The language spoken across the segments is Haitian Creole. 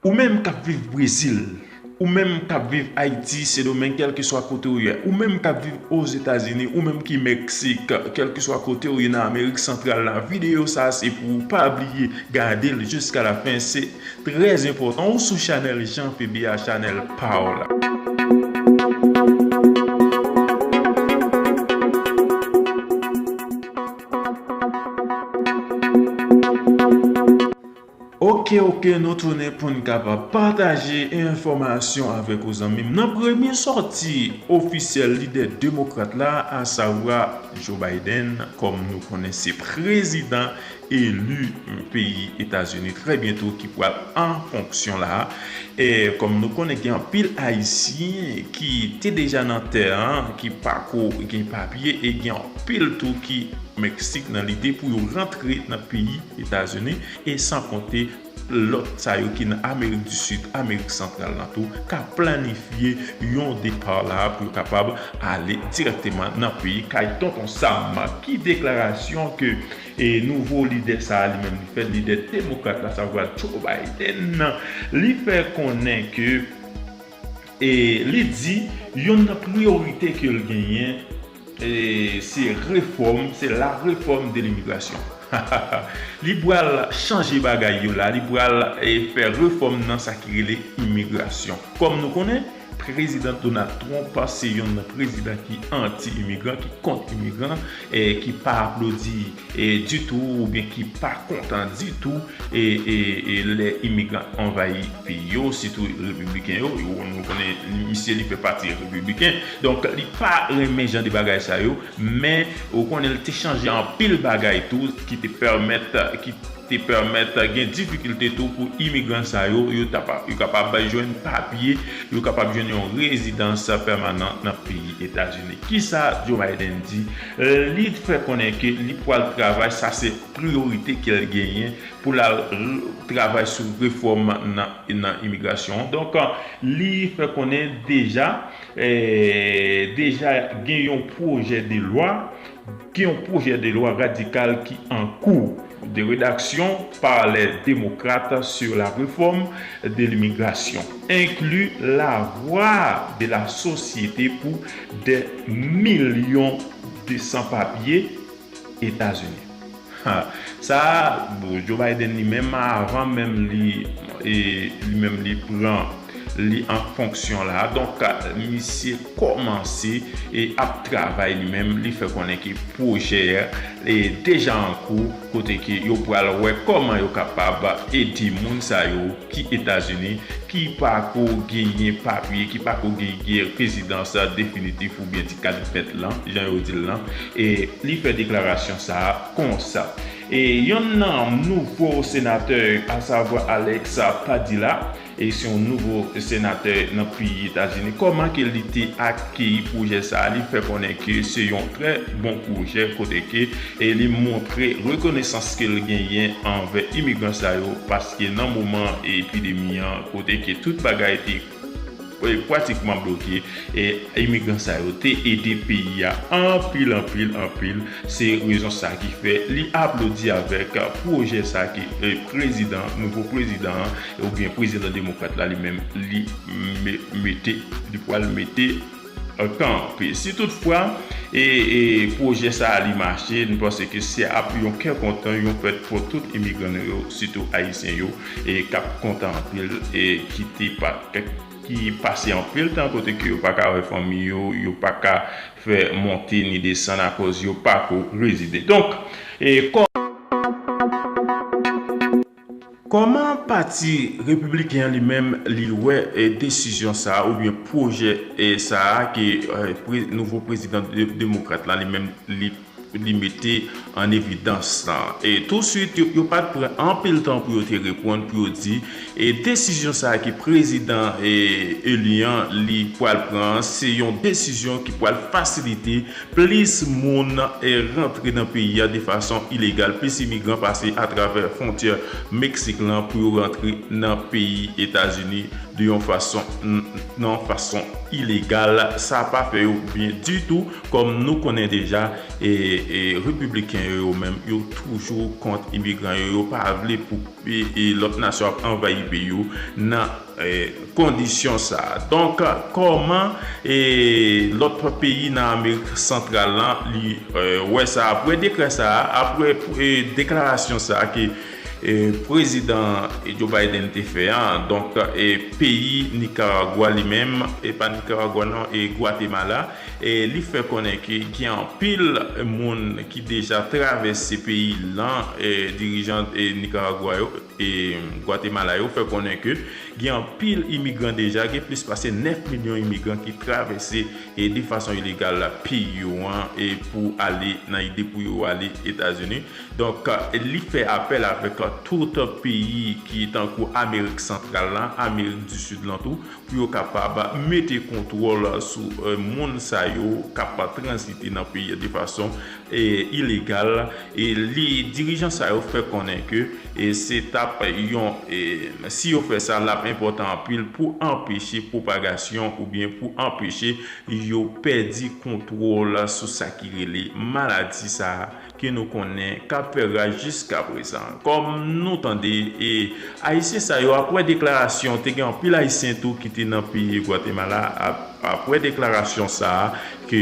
Ou menm kap viv brezil, ou menm kap viv ayiti, sendomeng kèlkeswa kote ou ye, ou menm kap viv ozetazini, ou menm ki meksik, kèlkeswa kote ou ye nan amerik santral la videyo sa se pou ou pa bliye gadel jiska la fen se trè enpòtan ou sou chanèl Jean PBA chanèl paw la. Ok ok nou tounen poun kapab pataje enfòmasyon avèk ou zanmim nan premye sòti ofisyèl lidè demokrat la asavwa Joe Biden kòm nou konnen se prezidan eli peyi etazini trè byento ki pwal an fonksyon la e kòm nou konnen gen anpil ayisyen ki te deja nan tè an ki pako gen papye e gen anpil tou ki Meksik nan lide pou yo rantre nan peyi Etazini, e san konte lòt sa yo ki nan Amerik di Sid, Amerik Santral la tou, ka planifye yon depa la pou yo kapab ale dirèkteman nan peyi kay Tonton Sam. Ki deklarasyon ke nouvo lidè sa a li menm li fè, lidè demokrat la, savwa Joe Biden, li fè konnen ke li di yonn nan priyorite ke l genyen, Se refòm, se la réforme de l'immigration hahaha li pral chanje bagay yo la, li pral fè refòm nan sa ki rele imigrasyon. Kòm nou konnen prezidan Donald Trump se yon nan prezidan ki anti-imigran, ki kont imigran, ki pa aplodi ditou oubyen ki pa kontan ditou lè imigran anvayi peyi yo sitou repibliken yo nou konnen misye li fè pati repibliken donk li pa renmen jan de bagay sa yo men ou konnen li te chanje anpil bagay tou ki te pèmèt ki te pèmèt gen difikilte tou pou imigran sa yo yo kapab jwenn papye yo kapab jwenn yon rezidans pèmanan nan peyi etazini kisa Joe Biden di Li fè konnen ke li pwal travay sa se priyorite kel genyen pou lal travay sou refòm nan imigrasyon an. Donk li fè konnen deja deja gen yon pwojè de lwa gen yon pwojè de lwa radikal ki an kou. 2 redaksyon par lè demokrat sur la refòm de limigrasyon enkli la vwa de la sosyete pou dè milyon de san papye Etazini ha sa a bon Joe Biden li menm avan menm li li menm li pran li an fonksyon la a donk misye kòmanse e ap travay li menm li fè konnen ke pwojè deja an kou kote ke yo pral wè kòman yo kapab ede moun sa yo ki Etazini ki pa ko genyen papye, ki pa ko genyen rezidans definitif oubyen ti kad vèt lan jan yo di l lan e li fè deklarasyon sa a konsa. E yonn nan nouvo senatè asavwa Alex Padilla E se yon nouvo senatè nan peyi Etazini. Kòman ke li te akeyi pwojè sa a? Li fè konnen ke se yon trè bon pwojè kote ke li montre rekonesans ke l genyen anvè imigran sa yo paske nan moman epidemi an kote ke tout bagay te pratikman bloke, imigran sa yo te ede peyi a anpil, anpil, anpil. Se rezon sa ki fè li aplodi avèk pwojè sa ke prezidan, nouvo prezidan an. Ou byen prezidan demokrat la li menm li mete li pwal mete kanpe. Si tout fwa pwojè sa a li mache, nou panse ke se ap yon kè kontan, yon fèt pou tout imigran nou yo, sitou ayisyen yo k ap kontan anpil e ki te ki pase anpil tan kote ke yo pa ka wè fanmi yo, yo pa ka fè monte ni desann akoz yo pa ko rezide. Donk. Kòman pati Repibliken an li menm li wè desizyon sa a oubyen pwojè sa a ke nouvo prezidan demokrat la li menm li mete an evidans la? Tousuit yo pat pran anpil tan pou yo te reponn pou yo di desizyon sa a ke prezidan eli an li pwal pran an se yon desizyon ki pwal fasilite Plis moun rantre nan peyi a de fason ilegal, plis imigran pase atravè fwontyè Meksik lan pou yo rantre nan peyi Etazini de yon fason nan fason ilegal. Sa pa fè yo byen ditou. Kòm nou konnen deja, Repibliken yo yo menm yo toujou kont imigran yo. Yo pa vle pou lòt nasyon ap anvayi peyi yo nan kondisyon sa. Donk kòman lòt peyi nan Amerik Santral la li wè sa apre dekrè sa, apre deklarasyon sa ke Prezidan Joe Biden te fè a. Donk peyi Nikaragwa li menm, e pa Nikaragwa non, e Gwatemala, li fè konnen ke gen anpil moun ki deja travèse peyi lan, dirijan Nikaragwa yo, Gwatemala yo fè konnen ke gen anpil imigran deja, gen plis pase 9 milyon imigran ki travèse de fason ilegal la peyi yo an pou ale nan ide pou yo ale Etazini. Donk li fè apèl avèk tout peyi ki tankou Amerik Santral la, Amerik di Sid lan tou pou yo kapab mete kontwòl sou moun sa yo k ap tranzite nan peyi an de fason ilegal e li dirijan sa yo fè konnen ke se tap yon si yo fè sa lap enpòtan anpil pou anpeche pwopagasyon oubyen pou anpeche yo pèdi kontwòl sou sa ki rele maladi sa ke nou konnen kap fè raj jiskaprezan kòm nou tande e ayisyen sa yo aprè deklarasyon te gen anpil ayisyen tou ki te nan peyi gwatemala aprè deklarasyon sa. ke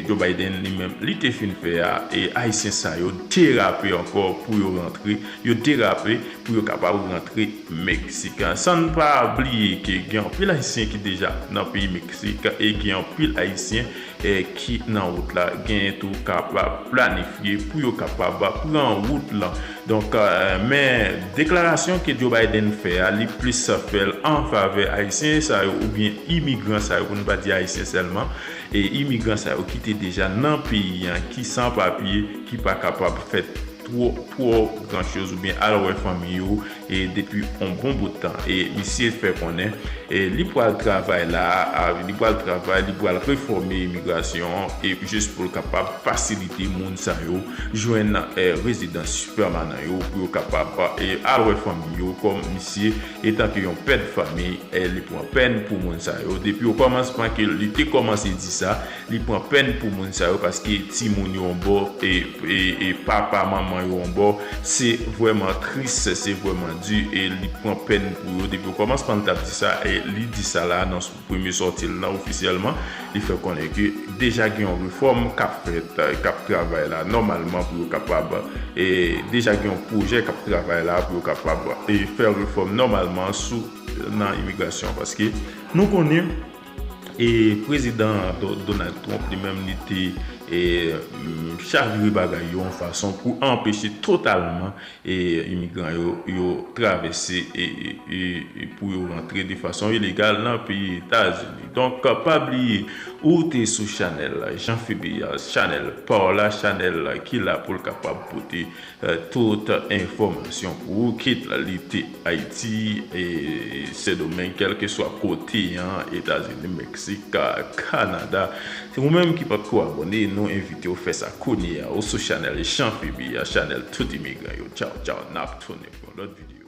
Joe Biden li menm li te fin fè a e ayisyen sa yo derape ankò pou yo rantre yo derape pou yo kapab rantre Meksik san n pa bliye ke gen anpil ayisyen ki deja nan peyi Meksik e gen anpil ayisyen ki nan wout la genyen tou kap planifye pou yo kapab pran wout lan. Donk, men deklarasyon ke Joe Biden fè a, li plis fè l an favè Ayisyen sa yo oubyen imigran sa yo, pou nou pa di Ayisyen sèlman, e imigran sa yo ki te deja nan peyi an, ki san papye, ki pa kapab fè two, twò gran choz oubyen al wè fanmi yo e depi on bon bout tan. E misye fè konnen li pral travay la a, li pral travay, li pral refòme imigrasyon an e jis pou l kapab fasilite moun sa yo jwenn rezidans pèmanan yo pou yo kapab al wè fanmi yo kòm misye etanke yon pè de fanmi li pran pèn pou moun sa yo depi o kòmansman ke li te kòmanse di sa li pran pèn pou moun sa yo paske ti moun yo yon bò e papa manman yo yon bò se vwèman tris se vwèman di e li pran pèn pou yo depi o kòmansman li tap di sa e li di sa la nan. Premye sòti l lan ofisyèlman, li fè konnen ke deja gen yon refòm k ap fèt, k ap travay la nòmalman pou yo kapab, deja gen yon pwojè k ap travay la pou yo kapab fè refòm nòmalman sou nan imigrasyon an. Paske nou konnen prezidan Donald Trump li menm li te chavire bagay yo yon fason pou anpeche totalman Imigran yo yo travèse pou yo rantre de fason ilegal nan peyi Etazini. Donk pa bliye ou te sou chanèl Jean Phebeas, chanèl paw la, chanèl ki la pou l kapab pote tout enfòmasyon pou ou kit li te. Ayiti, Sendomeng, kèlkeswa kote an, Etazini, Meksik, Kanada. Se ou menm ki patko abòne, nou envite w fè sa kounye a ou sou chanèl Jean Phoebe a, chanèl tout imigran yo. Tchaw tchaw, nap tounen pou yon lòt videyo.